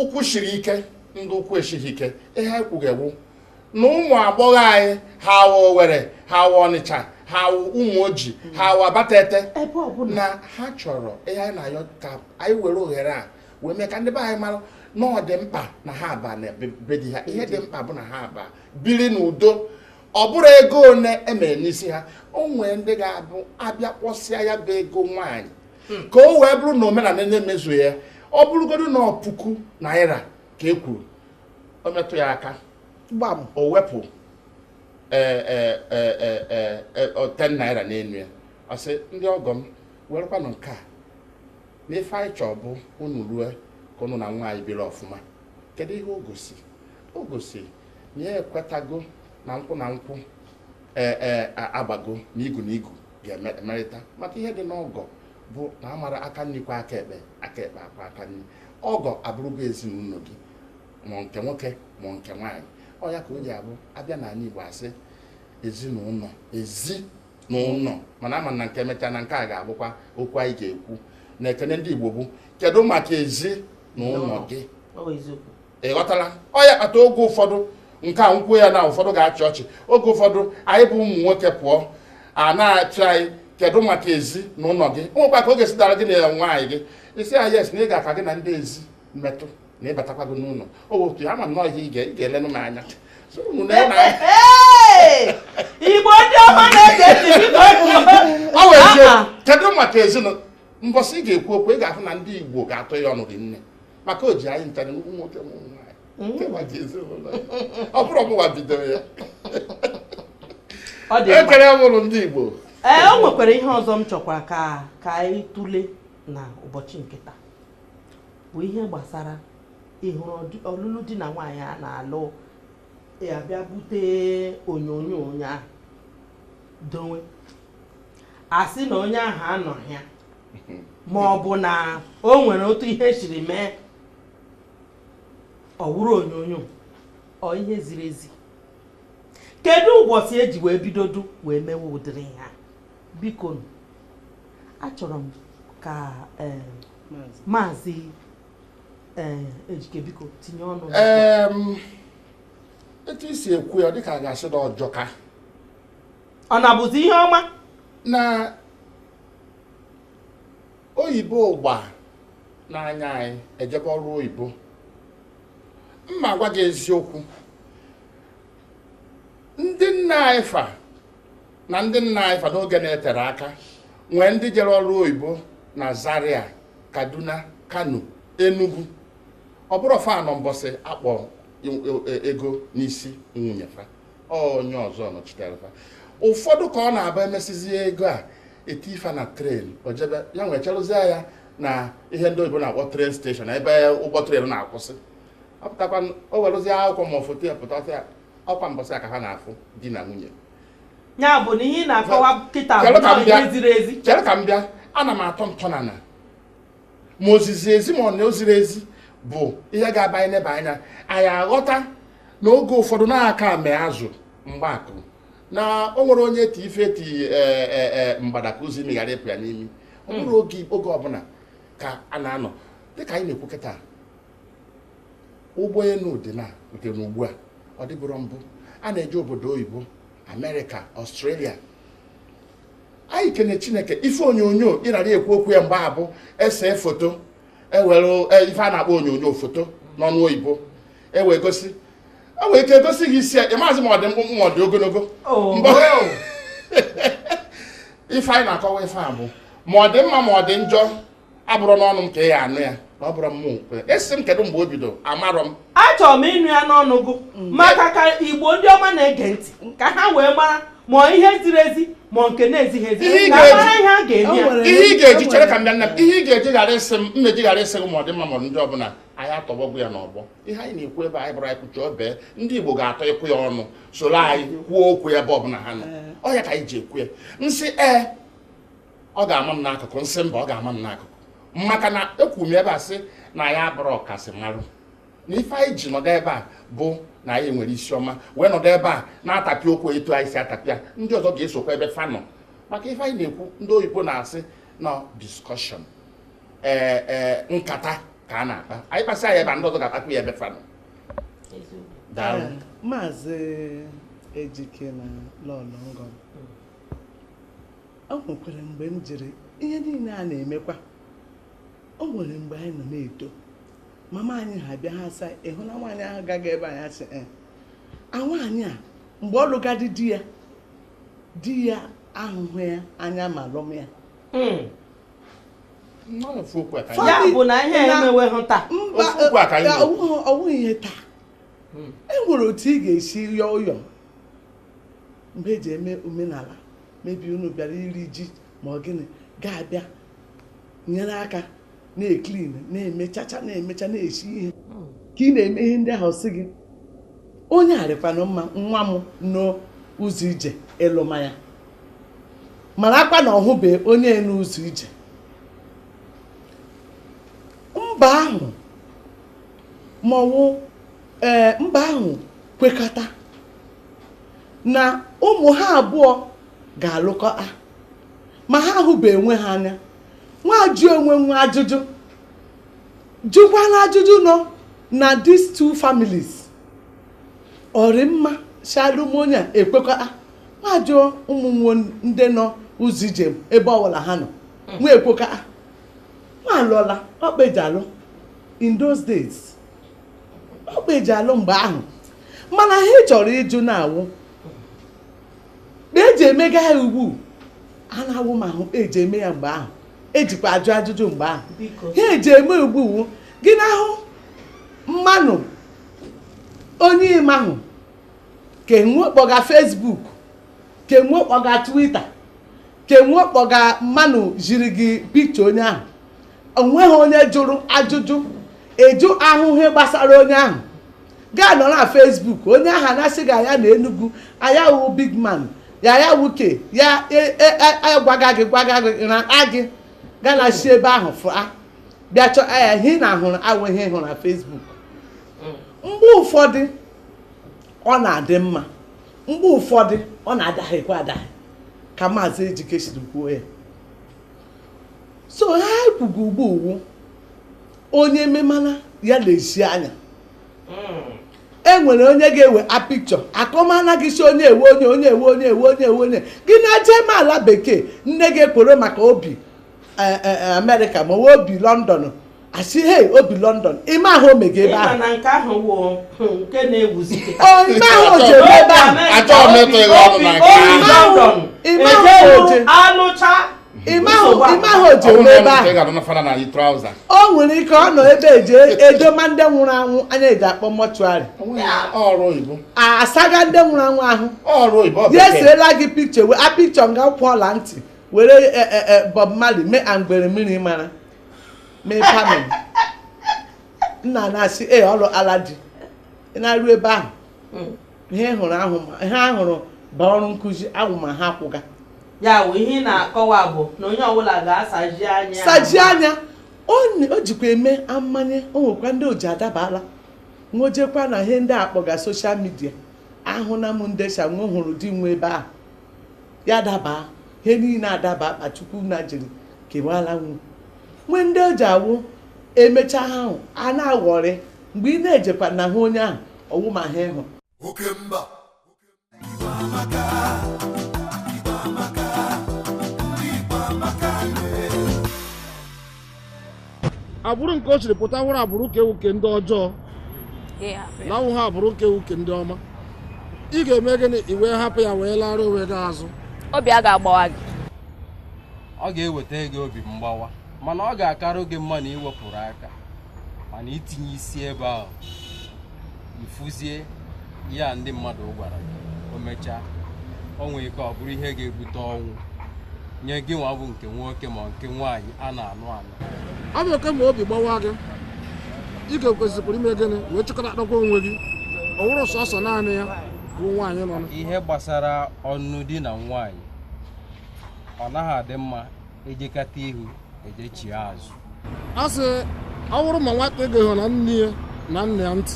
ụkwụ shiri ike ndị ụkwụ esighị ike ihe anyị kwuga wụ na ụmụ agbọghọ anyị ha wụ Owere ha wụ Ọnịcha ha wụ Ụmụoji ha wụ Abatete na ha chọrọ ihe anyị na-ayọ ka anyị were ohere a wee mee ka ndị be anyị mara na ọ dị mkpa na ha aba na be di ha ihe dị mkpa bụ na ha aba biri n'udo ọ bụrụ ego one e mere n'isi ha o nwere ndị ga-abụ a bịa kwụsịa ya bụ ego nwaanyị hmm. ka o wee bụrụ na omenala na-emezu ya ọ bụrụgodu na ọ puku naira ka e kwuru o metụ ya aka gbam o wepụ e, e, e, ten naira n'elu ya ọ sị ndị ọgọ m werekwanụ nke a na ife anyị chọọ bụ unu rue ka unu na nwa anyị biri ọfụma kedu ihe o gosi o gosi na ya ekwetago na nkwụ na nkwụ ee e, agbago n'igu n'igu ga-emerịta maka ihe dị n'ọgọ bụ na a maara aka nri kwọọ aka ekpe aka ekpe akwọọ aka nri ọgọ abụrụgo ezinụlọ gị ma nke nwoke ma nke nwaanyị ọ ya ka o ji abụ a bịa n'ala Igbo a sị ezinụlọ ezi na ụlọ mana a ma na nke emechaa na nke a ga-abụkwa okwu anyị ga-ekwu na ekene ndị Igbo bụ kedu maka ezi na ụlọ gị ị ghọtara ọ ya kpata oge ụfọdụ nke a m kwuo ya na ụfọdụ ga-achị ọchị oge ụfọdụ anyị bụ ụmụ nwoke pụọ a na-ajụ anyị kedu maka ezi na ụlọ gị nwekwa ka oge sitara gị na nwaanyị gị isi ya yes na ị ga-aka gị na ndị ezi metụ na ịbatakwa gị n'ụlọ otu ama nnọọ ihe ị ga-elenụ m anya igbo ndị ọma na-ege ntị kedu maka ezinụlọ mbọsị ị ga-ekwu okwu ị ga-ahụ na ndị igbo ga-atụ ya ọnụ gị nne maka o ji anyị nchara ụmụ nwoke ụmụ nwaanyị mm. maka ezinụlọ ya ọ bụrụ ọbụwa bidoro ya ekere mụrụ ndị Igbo ee eh, o nwekwara ihe ọzọ m chọkwa ka ka anyị tụle na ụbọchị nke taa bụ ihe gbasara ị hụrụ ọlụlụ di na nwaanyị a na-alụ a bịa bute onyonyo onye ahụ dowe a sị na onye ahụ anọghị ya ma ọ bụ na o nwere otu ihe siri mee ọ wụrụ onyonyo ọ ihe ziri ezi kedu ụbọchị e ji wee bidodu wee mewe ụdịrị ihe a biko achọrọ m ka eh, maazị eh, ejike biko tinye ọnụ etu i si ekwu ya dịka a ga-asị na ọ jọka ọ na-abụzi ihe ọma na oyibo ụgba n'anya anyị ejebe ọrụ oyibo mma agwa gị eziokwu ndị nna anyị fa na ndị nna anyị fa n'oge na-etere aka nwere ndị jere ọrụ oyibo na Zaria Kaduna Kano Enugu ọ bụrọ fa nọ mbọsị a kpọ e- e- ego n'isi nwunye fa onye ọzọ nọchitere fa ụfọdụ ka ọ na-abụ emesizie ego a eti fa na tren o jebe ya wee cherụzie ya na ihe ndị oyibo na-akpọ tren steshọn ebe ụgbọ tren na-akwụsị apụtakwa o werụzie akwụkwọ ma foto ya pụta ya ọ kwa mbọsị a ka ha na-afụ di na nwunye ya bụ na ihe ị na-akọwa kịta bụ ihe ziri ezi chere ka m bịa ana m atọ ntọnana ma ozizi ezi ma ọ na o ziri ezi bụ ihe ga-abụ anyị neba anya anyị aghọta na oge ụfọdụ na aka me azụ mgbakụ na o nwere onye ti ife ti e, e, e, mgbada ka ozi meghara ịpụ ya n'imi ọ hmm. bụrọ oge oge ọbụna ka a na-anọ dịka anyị na-ekwu kịta ụgbọenu dị na nke n'ugbu a ọ dịbụrọ mbụ a na-eje obodo oyibo amerịka ọstrelia anyị kene chineke ife onyonyo anyị narị ekwu okwu ya mgbe a bụ e see foto ewere e, ife a na-akpọ onyonyo foto n'ọnụ oyibo ewee gosi enwere ike egosi gị isi ya ị mazị ma ọ dị mkpụmkpụ ma ọ dị ogonogo oh, ife anyị na-akọwa ife a bụ ma ọ dị mma ma ọ dị njọ abụrọ n'ọnụ m ka ị ya-anụ ya ọ bụrụ ị sị m kedu mgbe o bido amarọ m achọrọ m ịnụ ya n'ọnụ gụ mm. maka ka igbo ndị ọma na-ege ntị ka ha wee mara ma ihe ziri ezi ma nke na-ezighị ezi ihe ị ga-eji chere ka m bịa nna m ihe ị ga-eji ghara ịsị m mmeji ghara ịsị gị ma ọ dị mma ma ndị ọbụla anyị atọgbọgwụ ya n'ọgbọ ihe anyị na-ekwu ebe anyị bụrụ anyị kwuchi obee ndị Igbo ga-atọ ịkwụ ya ọnụ soro anyị kwuo okwu ya ebe ọbụla ha nọ eh. ọ ya ka anyị ji ekwu ya m sị ee eh, ọ ga-ama m n'akụkụ nsị mba ọ ga-ama m n'akụkụ maka na ekwuru m ebe a sị na anyị abụrọ ọkasị marụ na ife anyị ji nọdụ ebe a bụ na anyị nwere isi ọma wee nọdụ ebe a na-atapịa okwu etu anyị si atapịa ndị ọzọ ga-esokwa ebe fanọ maka ife anyị na-ekwu ndị oyibo na-asị na discussion ee eh, ee eh, nkata ka a na-akpa anyị kpasị anyị ebe a ndị ọzọ ga-akpakwa ya ebe fa nọ eh, maazị ejike na lọlọ ngọm o nwekwara mgbe m jiri ihe niile a na-emekwa o nwere mgbe anyị nọ na-eto mama anyị ha bịa ha asị ị hụna nwaanyị ahụ gaga ebe anyị asị eh, a nwaanyị a mgbe ọ lụga di di ya di ya ahụhụ ya anya ma lụma ya hmm. ya bụ na ihe emeweghị taa ọwụghị ihe taa hmm. e nwere otu ị ga-esi yọọ ụyọ mgbe e ji eme omenala maybe unu bịara iri ji ma ọ gịnị ga-abịa nyere aka na-eclean na-emechacha na-emecha na-esi ihe ka ị na-eme ihe ndị ahụ a sị gị onye a rịkwanụ mma nwa m nọ ụzọ ije ị lụma ya marakwa na ọ hụbe onye nọ ụzọ ije mba ahụ ma ọ wụ ee eh, mba ahụ kwekọta na ụmụ ha abụọ ga-alụkọ a ma ha ahụbe onwe ha anya nwa ajụ onwe nwa ajụjụ jụkwala ajụjụ nọ na these two families ọ rị mma shị a lụma onye a ekwekọ a nwa ajụọ ụmụ nwo ndị nọ ụzọ ijem ebe ọbụla ha nọ hmm. nwa ekwekọ a nwa alụọla ọ kpa e ji alụ in those days ọ kpa e ji alụ mgbe ahụ mana ihe a ị chọrọ ịjụ na ọ wụ kpa e ji emega ya ugbu a na ọ wụmahụ kpa e ji eme ya mgbe ahụ e jikwa ajụ ajụjụ mgbe ahụ ihe a e ji eme ugbu a wụ gị na-ahụ mmanụ onye ị mahụ ke nwe kpọga Facebook ke nwe kpọga Twitter kenwe kpọga mmanụ ziri gị pikcha onye ahụ onweghị onye jụrụ ajụjụ ịjụ ahụ ihe gbasara onye ahụ gaa nọ na Facebook onye ahụ ana-asị gị a ya nọ Enugu a ya wụ big man ya ya wuke ya agwaga e, e, e, gị gwaga gị na gị gaa na si ebe ahụ fụa bịa chọọ ya ihe na ahụrụ awụ ihe hụrụ na Facebook mgbe ụfọdụ ọ na-adị mma mgbe ụfọdụ ọ na-adahiekwa adahie ka maazị Ejike siri kwuo ya so ha ekwuga ugbu a wụ onye memala ya lezie anya e nwere onye ga-ewe a pikchọ akọmana gị si onye ewe onye onye gị na-eje eme ala bekee nne gị ekworo maka obi eh, eh, eh, amerịka ma ọ wụ obi lọndọn asị hei obi lọndọn ị ma ihe o mega ebe ahụ nke ahụ wụ hmm, nke na-ewuzi ị ma ihe o ji ebi ebe ahụ achọghị m ịtụ ịgha ọnụ na nke ahụ ị ma ihe o ji anọcha ị ma ihe o ji ebi ebe ahụ o nwere ike ọ nọ ebe e ji edoma ndị nwụrụ anwụ anyị ji akpọ mọchụarị asaga ndị nwụrụ anwụ ahụ ya eseela gị pikchọ wee a pikchọ nga kwụ ọla ntị were e, e, e, Bob Marley mee angwere mmiri mara mee pamin nna na-asị ee ọrụ ala dị ị na-arụ ebe ahụ Mm. ihe ị hụrụ ahụ ma ihe a hụrụ bụ ọrụ nkụzi ahụ ma ha kwụga ya wụ ihe ị na-akọwa bụ na onye ọbụla ga-asaji anya ya. saji anya o n- o jikwa eme amanye o nwekwa ndị o ji adabara nwojekwa na ihe ndị a kpọga soshal midia ahụna m ndị shi nwe hụrụ di nwe ebe ahụ ya daba ihe niile adaba kpa Chukwu na jiri kewala nwu nwee ndị o ji awụ emecha ha ahụ a na-aghọrị mgbe ị na-ejekwa na hụ onye ahụ ọ wụ ma ha ịhụ oke mba agbụrụ nke o siri pụta wụrụ agbụrụ ka enwe nke ndị ọjọọ na awụha agbụrụ ka enwe nke ndị ọma ị ga-eme gịnị i wee hapụ ya wee lara onwe gị azụ obi a ga-agbawa gị ọ ga-eweta gị obi mgbawa mana ọ ga-akarụ gị mma na iwepụrụ aka mana itinye isi ebe ahụ mfuzie ihe a ndị mmadụ gwara gị o mechaa o nwere ike ọ bụrụ ihe ga-ebute ọnwụ nye gị nwa bụ nke nwoke ma nke nwaanyị a na-anụ anụ ọ bụ oke ma obi gbawa gị ị ga-ekwesịkwara ime gịnị wee chịkọta akpakwa onwe gị ọ wụrụ sọsọ naanị ya bụ nwaanyị nọ na ihe gbasara ọnụnụ di na nwaanyị ọ naghị adị mma ejekata ihu ejechie azụ a sị ọ bụrụ ma nwata egeghị na nne ya na nna ya ntị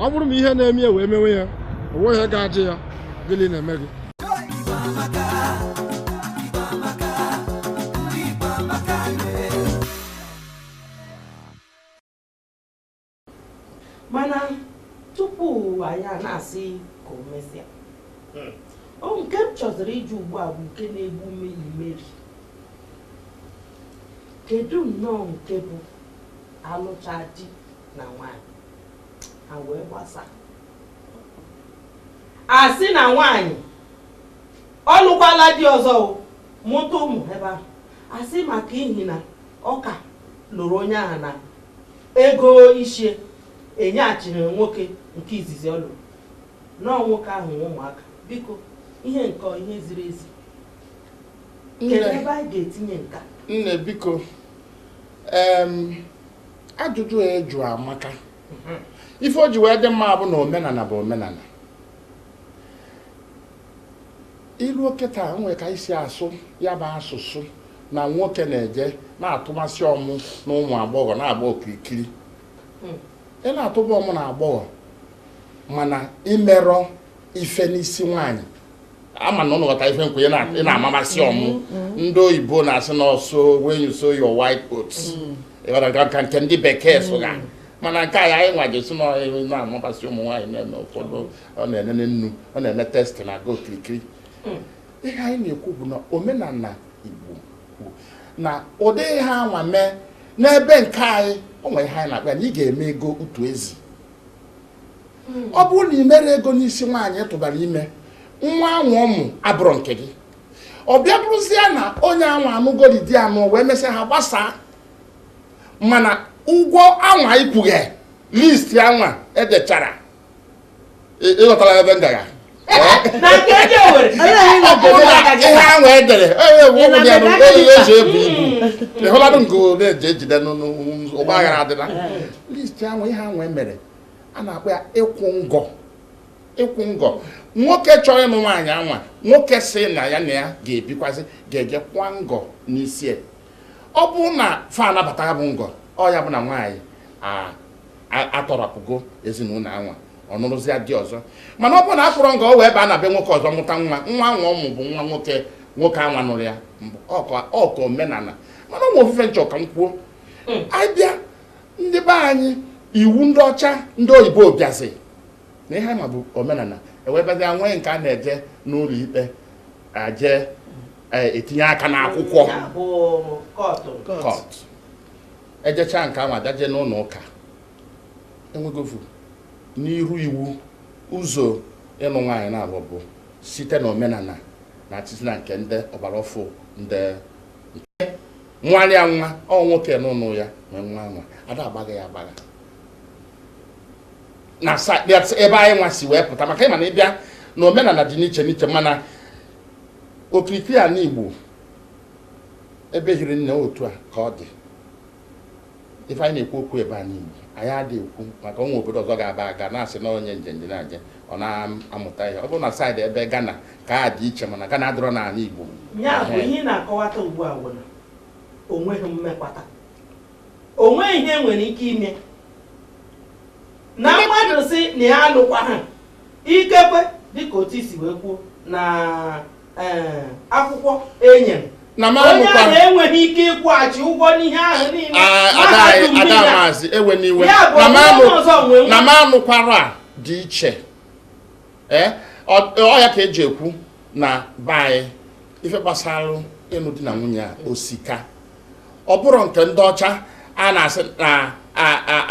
ọ bụrụ ma ihe na-eme ya wee mewe ya o nweghị ga-ajụ ya gịnị na-eme gị mana tupu anyị a na-asị ka o mesịa hmm. ọ nke m chọziri ịjụ ugbu a bụ nke na-egbu ume imeri kedu nnọọ nke bụ a lụchaa di na nwanyị ha wee gbasaa a sị na nwanyị ọ lụkwala di ọzọ mụta ụmụ ebe ahụ a sị maka ihi na Ọ ka lụrụ onye ahụ na ego isi ya enyeghachiri nwoke nke izizi ọ lụrụ na ọ nwoke ahụ nwe ụmụaka biko ihe nke a ọ ihe ziri ezi kedu ebe anyị ga-etinye nke a nne biko em, ajụjụ a ị jụ amaka ife o ji wee dị mma bụ na omenala bụ omenala ilu oke taa nwere ka e si asụ ya bụ asụsụ na nwoke na-eje na-atụbasị ụmụ na ụmụ agbọghọ na-agba okirikiri hmm. ị na-atụba ụmụ na agbọghọ mana i merọ ife n'isi nwaanyị ama na ụnụ ghọta ife nkwe ị hmm. na-amụbasị ụmụ hmm. ndị oyibo na-asị na ọsọ when you sow your wild oats ka nke ndị bekee sụga mana nke a ya anyị nwa ga-asị na na-amụbasị ụmụ nwaanyị na-eme ụfọdụ ọ na-enene nnu ọ na-eme testị na-aga okirikiri hmm. ihe anyị na-ekwu bụ na omenala Igbo kwuru na ụdị ihe anwa mee n'ebe nke anyị o nwere ihe anyị na-akpọ na ị ga-eme ego utu ezi hmm. ọ bụrụ na ị mere ego n'isi nwaanyị tụbara ime nwa anwa ụmụ abụrụ nke gị ọ bịa bụrụzie na onye anwa anụgori di anụ wee mesịa ha gbasaa mana ụgwọ anwa ị kwụghị list anwa e dechara ị ghọtara ebe m gara ihe ahụ e dere e ji ebu ibu ịhụladụ nke na-eji ejide n'ụgbọ aghara adịla listi ahụ ihe ahụ e mere a na-akpọ ya ịkwụ ngọ ịkwụ ngọ nwoke chọrọ ịnụ nwaanyị anwa nwoke sị na ya na ya ga-ebikwazị ga-eje kwụa ngọ n'isi ya ọ bụrụ na fa anabata bụ ngọ ọ ya bụ na nwaanyị a atọrapụgo ezinụlọ anwa ọ nụrụzịa di ọzọ mana ọ bụrụ na akwụrọ ngọ o wee baa na be nwoke ọzọ mụta nwa nwa anwa ọ mụ bụ nwa nwoke nwoke anwa nụrụ ya ọka omenala mana onwe ofu ife m chọ ka m kwuo hmm. abịa ndị be anyị iwu ndị ọcha ndị oyibo bịazi na ihe ma bụ omenala e wee bịazia nwee nke a na-eje n'ụlọ ikpe aje e, etinye aka n'akwụkwọ court ejechaa nke ahụ abịaje n'ụlọ ụka enwegofu n'iru iwu ụzọ ịlụ nwaanyị naabọ bụ site na omenala na atịtị na nke ndị ọgbara ọfụ ndị nke nwaanyị anwa ọ nwoke n'ụlọ ya nwe nwa anwa ada agbagha ya agbagha na ebe anyị nwa si wee pụta maka ịma na ịbịa na omenala dị n'iche n'iche mana okirikiri anị Igbo ebe hiri nne otu a ka ọ dị ife anyị na-ekwu okwu ebe anị Igbo anyị adị ekwu maka onwe obodo ọzọ a ga-aba a ga na-asị na onye njenje na-aje ọ na-amụta ihe ọ bụrụ na side ebe Ghana ka a dị iche mana Ghana adịrọ n'ala Igbo ya bụ ihe ị na-akọwata ugbu a bụ na onweghị mmekwata onweghị ihe nwere ike ime na mmadụ sị na ya alụkwaha ikekwe dịka otu i si wee kwuo na akwụkwọ enye na m onye ahụ enweghị ike ịkwụghachi ụgwọ n'ihe ahụ niile ada maazị ewe n'iwe na m anụkwara dị iche eh, ọ ya ka eji ekwu na be anyị ife gbasara ịnụ di na nwunye a ọ sị ka ọ bụrụ nke ndị ọcha a na-asị na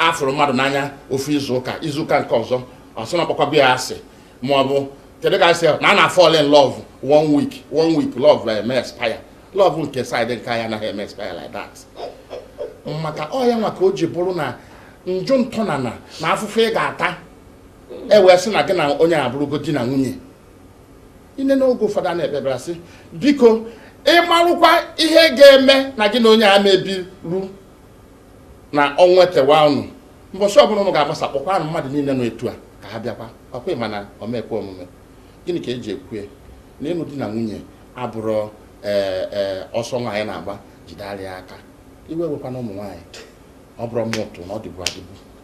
afụrụ mmadụ n'anya ofu izuụka izuụka nke ọzọ ọ sị na ọ kpọkwaba ya asị ma ọ bụ kedu ka a sị na a na-afall in love one week one week love na eme expire love nke side nke anyị anaghị eme expire like that maka ọ ya nwa ka o ji bụrụ na njụ ntọnana na afụfụ ị ga-ata e wee sị na gị na onye abụrụgo di na nwunye ine n'oge ụfọdụ a na-ekpebara sị biko ịmarụkwa ihe ga-eme na gị na onye a mebiru na ọnwa etewa ụnụ mbọchị ọbụla ụnụ ga-agbasa kpọkwanụ mmadụ niile nọ etu a ka ha bịakwa ọkwa ịma na ọ ma ekwe omume gịnị ka eji ekwue na ịnụ di na nwunye abụrọ ee e, ọsọ nwaanyị na-agba jide ara ya aka iwe ewekwana ụmụ nwaanyị ọ bụrọ mụ tụ na ọ dịbu adịbu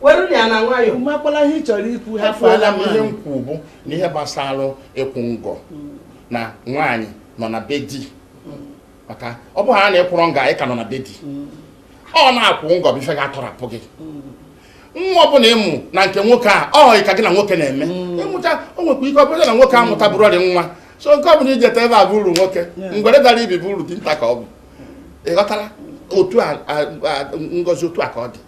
were ya na nwayọ makwala ihe ị chọrọ ikwu ha fụọla m ihe m kwu bụ na ihe gbasara ịkwụ ngọ na nwaanyị nọ na be di maka ọ bụrụ na akwụrọ ngọ nwaanyị ka nọ na be di ọ na ịkwụ ngọ bụ ife ga-atọrapụ gị nwa ọbụla ị mụ na nke nwoke a ọ họghị ka gị na nwoke na-eme ị mụta o nwekwa ike ọ bụrụ na nwoke amụta bụrụ ọrị nwa so nke ọ bụla ijeta ebe a bụ uru nwoke ngwere dara ibi bụ uru dị nta ka ọ bụ ịghọtara otu a ngozi otu a ka ọ dị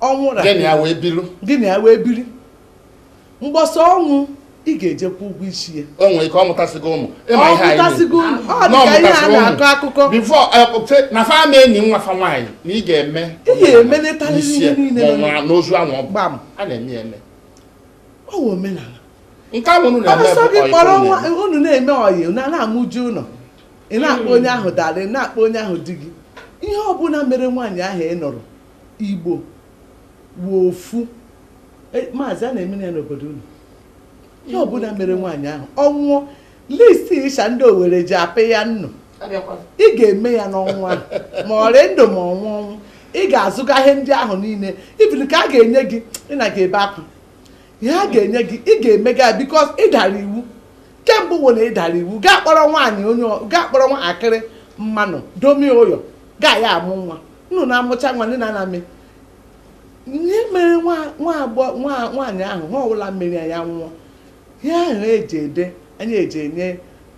ọnwụ ra gị na ya wee bilu gị na ya wee biri mgbe ọsọ ọ nwụọ ị ga-eje kwụọ ụgwọ isi ya o nwere ike ọ mụtasịgo ụmụ ịma ọ ihe anyị pụtasịgo unu ọ na dị ka ihe a ọ mụtasịgo na-akọ ụmụ akụkọ before na fa ama-eni nwa fa nwaanyị na ị ga-eme Ị ga-emenetarịrị ihe niile ma ọ nọ. nwụrụ n'ozu anwụ ọ bụ gbam a na-eme ya eme ọ wụ omenala nke ahụ unu na-eme ọsọ bụ gị ọyị kpọrọ unu nwa na-eme. unu na-eme ọyị na na-amụju ụlọ ị na-akpọ onye ahụ darling ị na-akpọ onye ahụ di gị ihe ọbụla mere nwaanyị ahụ ị nụrụ igbo wụ ofu E, maazị a na-eme ya n'obodo unu ihe ọbụla mere nwaanyị ahụ ọ nwụọ list ịsha ndị owere ji apịa nnu ị ga-eme ya n'ọnwa ma ọ rị ndụ ma ọ nwụọ ọnwụ ị ga-azụga ihe ndị ahụ niile even ka a ga-enye gị ị na ga-ebe akwa ihe a ga-enye gị ị ga-emega because ị dara iwu kemgbe wo na ị dara iwu gaa kpọrọ nwaanyị onye gaa kpọrọ nwa akịrị mmanụ domie ụyọ gị ya amụọ nwa nnụ na-amụcha nwa ndị na-ana mee ihe mere nwaanyị ahụ ihe ọbụla mere ya nwụọ ihe ahụ e ji edenye e ji enye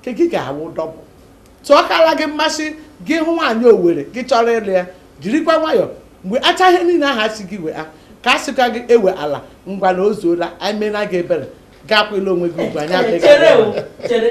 nke gị ga-awụ double so ọ kala gị mma sị gị hụ nwaanyị owere gị chọrọ ịlụ ya jirikwa nwayọọ wechaa ihe niile ahụ a sị gị wee ka a sịkwa gị eweala ngwa na o zuola anyị emeela gị ebere gakwela onwe gị ugbu anyị adịghị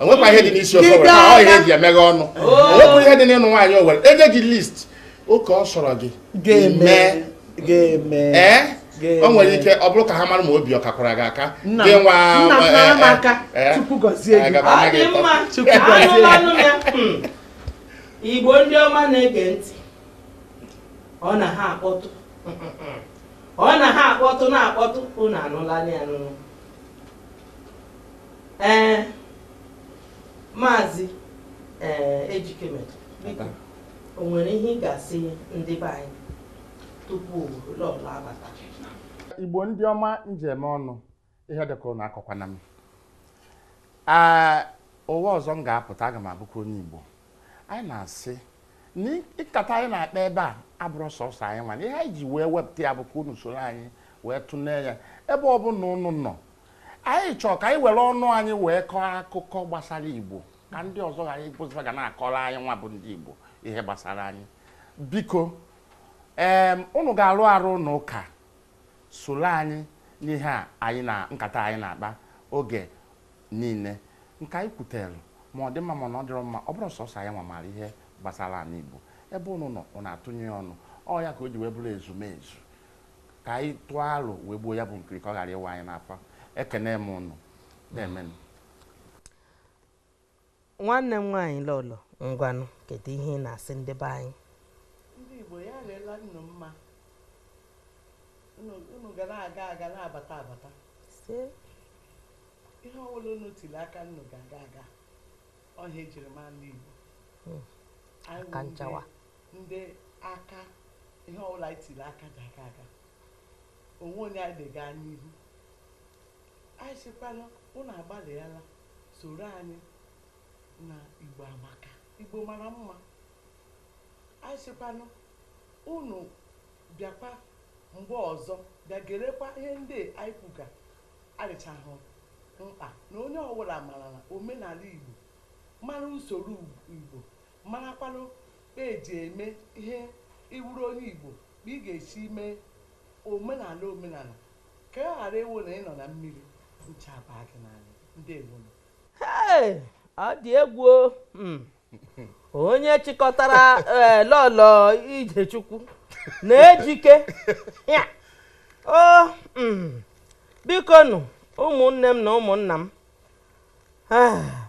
o nwekwa ihe dị n'isi ofe owere ọ ihe e ji emeghe ọnụ o nwekwa ihe dị n'ịnụ nwaanyị owere e nye gị list oke ọ sọrọ gị ga-eme ee o nwere ike ọ bụrụ ka ha mara ma obi ọ kakwara gị aka gị nwa igbo ndị ọma na-ege ntị ọ na ha akpọtụ ọ na ha akpọtụ na-akpọtụ unu anụla ya n'ụlọ ee maazị ee ejikeme biko o nwere ihe ị ga-asị ndị be anyị tupu lọlọ abata igbo ndị ọma ndeewo nụ ihe dịka unu akọkwana m ee ụwa ọzọ m ga-apụta aga m abụkwa onye igbo anyị na-asị na nkata anyị na-akpa ebe a abụrọ sọsọ anyị nwa na ihe anyị ji wee wepụta ya bụ ka unu soro anyị wee tụlee ya ebe ọ bụla unu nọ Anyị chọọ ka anyị were ọnụ anyị wee kọọ akụkọ gbasara Igbo ka ndị ọzọ ghara ịbụzịba ga na-akọrọ anyị nwa bụ ndị Igbo ihe gbasara anyị biko ee unu ga-arụ arụ unu ka soro anyị n'ihe a anyị na nkata anyị na-akpa oge niile nke anyị kwutere ma ọ dị mma ma na ọ dịrọ mma ọ bụrọ sọsọ anyị nwa maara ihe gbasara ala Igbo ebe unu nọ unu atụnye ọnụ ọ ya ka o ji wee bụrụ ezumezu ka anyị tụọ aro wee gbuo ya bụ nkiri ka ọ ghara ịwa anyị n'afọ ekene m ụnụ ndeemenụ nwanne m nwaanyị lọlọ ngwanụ kedu ihe ị na-asị ndị be anyị ndị igbo ya rela unu mma unu ga na-aga aga na-abata abata ihe ọbụla unu tiri aka unu ga-aga aga ọhịa ejiri ma ndị igbo hmm. aka nchawa ndị aka ihe ọbụla anyị tiri aka ga-aga aga o nwe onye anyị lega anya n'ihu anyị sịkwanụ ụnụ agbalịala soro anyị na igbo amaka igbo mara mma anyị sịkwanụ ụnụ bịakwa mgbe ọzọ bịa gerekwa ihe ndị anyị kwuga adịchahụ mkpa na onye ọbụla marala omenala igbo mara usoro igbo Marakwanụ kpa e ji eme ihe ị wụrụ onye Igbo, kpa ị ga-esi mee omenala omenala ka ọ ghara ịwụ na ị nọ na mmiri, ncha abaa gị n'anya. Ndewonụ. Hey! Ọ dị egwu o. Hmm. Onye chịkọtara eh, lọlọ Ijechukwu na Ejike. Ya. O mm. bikonụ ụmụnne m na ụmụnna m. Ah.